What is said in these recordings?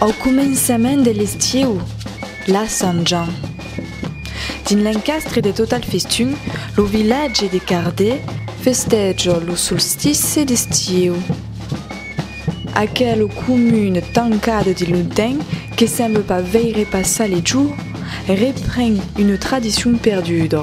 Au començament de l'estiu, la Sant Jean. Dins l'encastre de Total Festum, lo vilatge de Cardé, festèja lo solstice d'estiu. Aquela comuna tancada de longtemps que semble pas veire passar les jours, repren una tradicion perduda.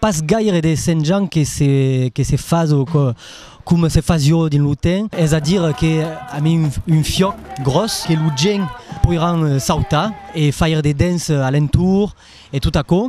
Pas gaire de senjant que se que se fas o que com se fas jo dins lo ten, es a dir que a mi un fiòc gròs que lo gèn poiràn sautar e faire de dens a l'entour e tot aquò.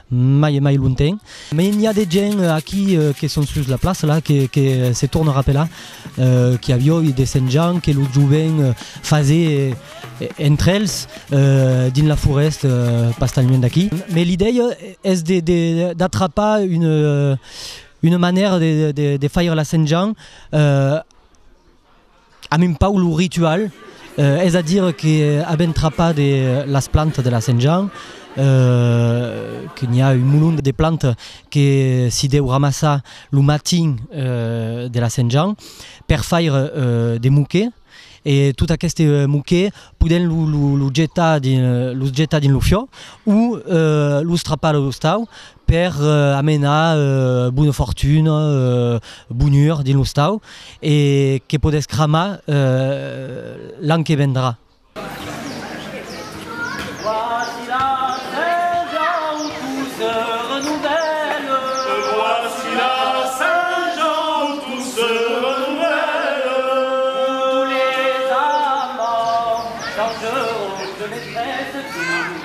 mai e mai lonten. Mai n'i a de gent aquí que son sus la plaça la que que se torna rapelar qu'i avió i de Sent Jan que lo jovent fasé entre els dins la forest pas tan luent d'aquí. Mai l'idèia es de de d'atrapar une une manèra de de de faire la Sent Jan Amb un paulu ritual, es a dire que avèm trapat las plantas de la Sent Jean, que n'i a un molon de plantas que s'i deu ramassar lo matin de la Sent Jean per faire de moquet, e tot aqueste moquet podèm los jetar dins lo fiò o los trapar a l'ostau per amenar bona fortuna, bonhur dins l'ostau e que podèsses cramar l'an que vendrà.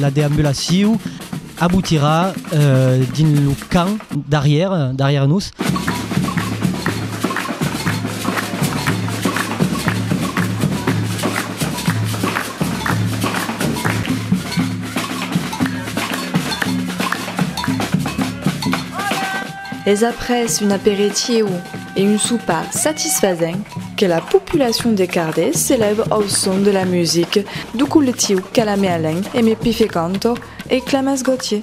La deambulacion abotirà dins lo camp darrièr, darrièr nos. Es après un aperitieu e un sopar satisfasent que la populacion de Cardés se lève au son de la music du collectiu Calamé Alain e Me Pife Canto e Clamas Gautier.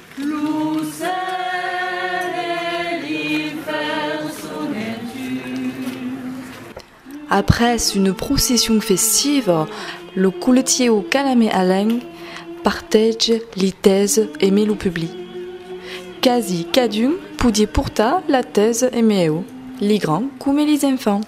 Lo cèl e l'infèrn son en tu. Après une procession festiva, lo coletièu Calamé Alain partage li tèse e me lo publi. Quasi cadun podie portar la tèse e me eu, li grands coma li enfants.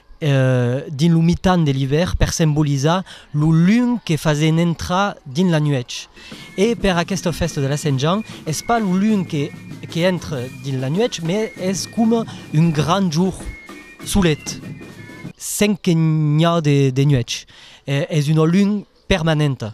dins lo mitan de l'ivèrn per sembolizar lo lunh que fasen entrar dins la nuèch. E per aquesta fèsta de la Sent Jean es pas lo lunh que que entre dins la nuèch mai es coma un grand jorn solet sen que n'i a de nuèch. Es una lunh permanenta.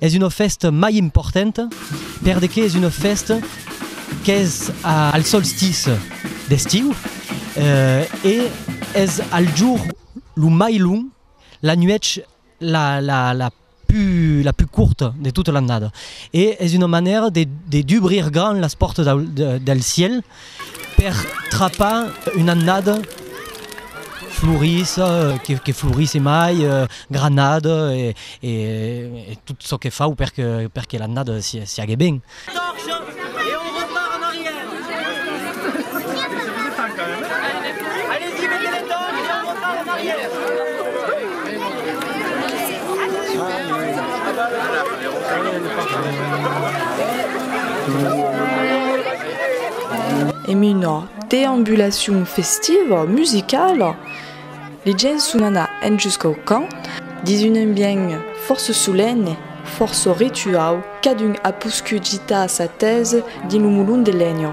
Es una fèsta mai importanta perdeque es una fèsta qu'es al solstiç d'estiu e es al jorn lo mai long, la nuèch la pus corta de tota l'annada. E es una manèra de dubrir grand las pòrtas del cièl. Per trapar una annada florissa, que florisse mai, granada e tot çò que fau per que l'annada siague ben. Torcha e on repart en arrière. Èm una deambulacion festiva, musicala, li gents son anat en jusqu'au camp dins un ambient fòrça solenne, fòrça rituau, cadun a poscut gitar sa tese dins lo molon de lenha.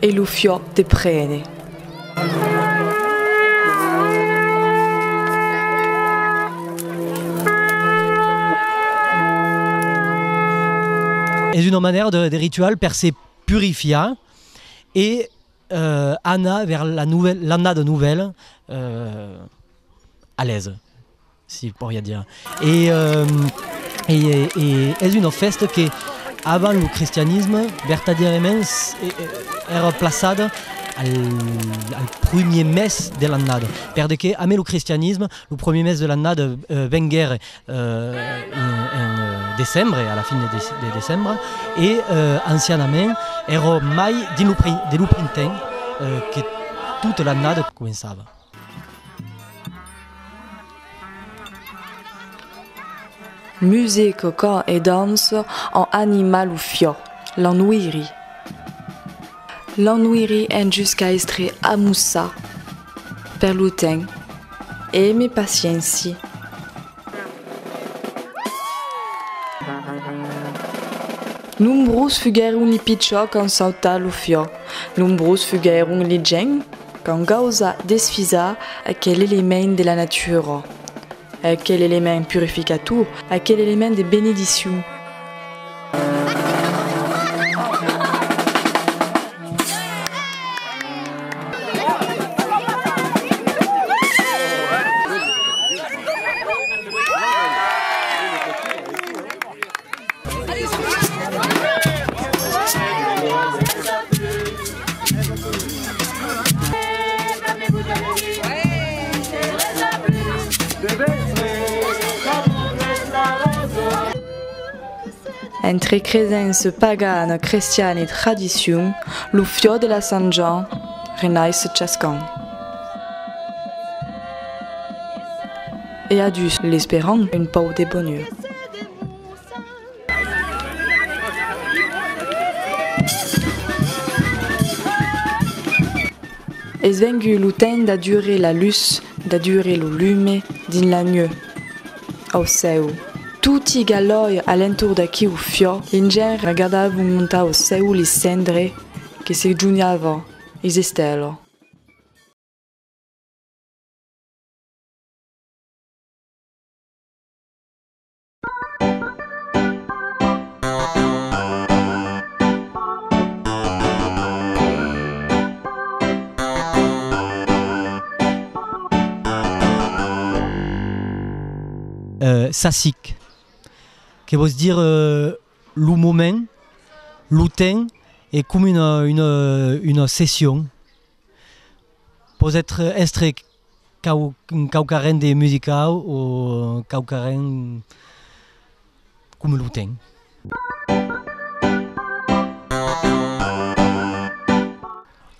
E lo fiò te prene. Es una manèra de ritual per se purifiar e anar vers l'annada novèla alèsa. si poria dire. E es una fèsta que, avant lo cristianisme, vertadièrament èra plaçada al primièr mes de l'annada. Per de que, amé lo cristianisme, lo primièr mes de l'annada venguère en decembre, a la fin de decembre, e ancianament èra mai dins lo printemps que tota l'annada començava. Music, cant e dança an animat lo fiò, l'ennuiri. L'ennuiri en jusca estre amusa per lo temps e me pacienci. Nombrós fuguèron li pichò qu'an sautat lo fiò, nombrós fuguèron li gents. Qu'an causa desfisar aquel element de la natura, aquel element purificator, aquel element de benediccion. Entre cresents e pagana crestiana e tradicion, lo fiò de la Sant Jan renais se chascan. E adús l'esperan un pauc de bonur. Es vengut lo temps d'adurer la lutz, d'adurer lo lume dins la nueu. Au cèu. Toti galòi a l'entorn d'aqueu fiò, l'ingèn regadavon montar au cèu li cendre que se junhavon is estèlo. Sassic, que vòs dire lo moment, lo temps e com una session. Pòs èstre Quauquarren de musicau o quauquarren coma lo ten.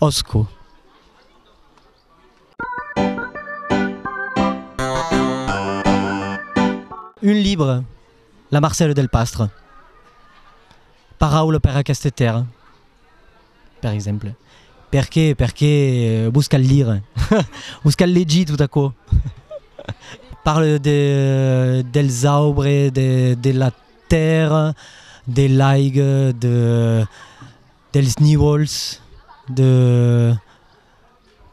Òsco. Un libre, La Marcelle del Pastre. Paraula per aqueste tèrra. per exemple. Perqué, perqué vos cal lire, vos cal legir tot aquò. Parle de dels aubres, de de la tèrra, de l'aiga, de dels nivols, de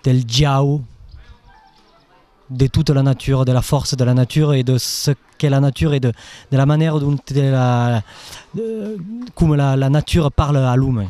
del jau. de tota la natura, de la fòrça de la natura e de çò qu'es la natura e de de la manèra dont la coma la la natura parla a l'uman.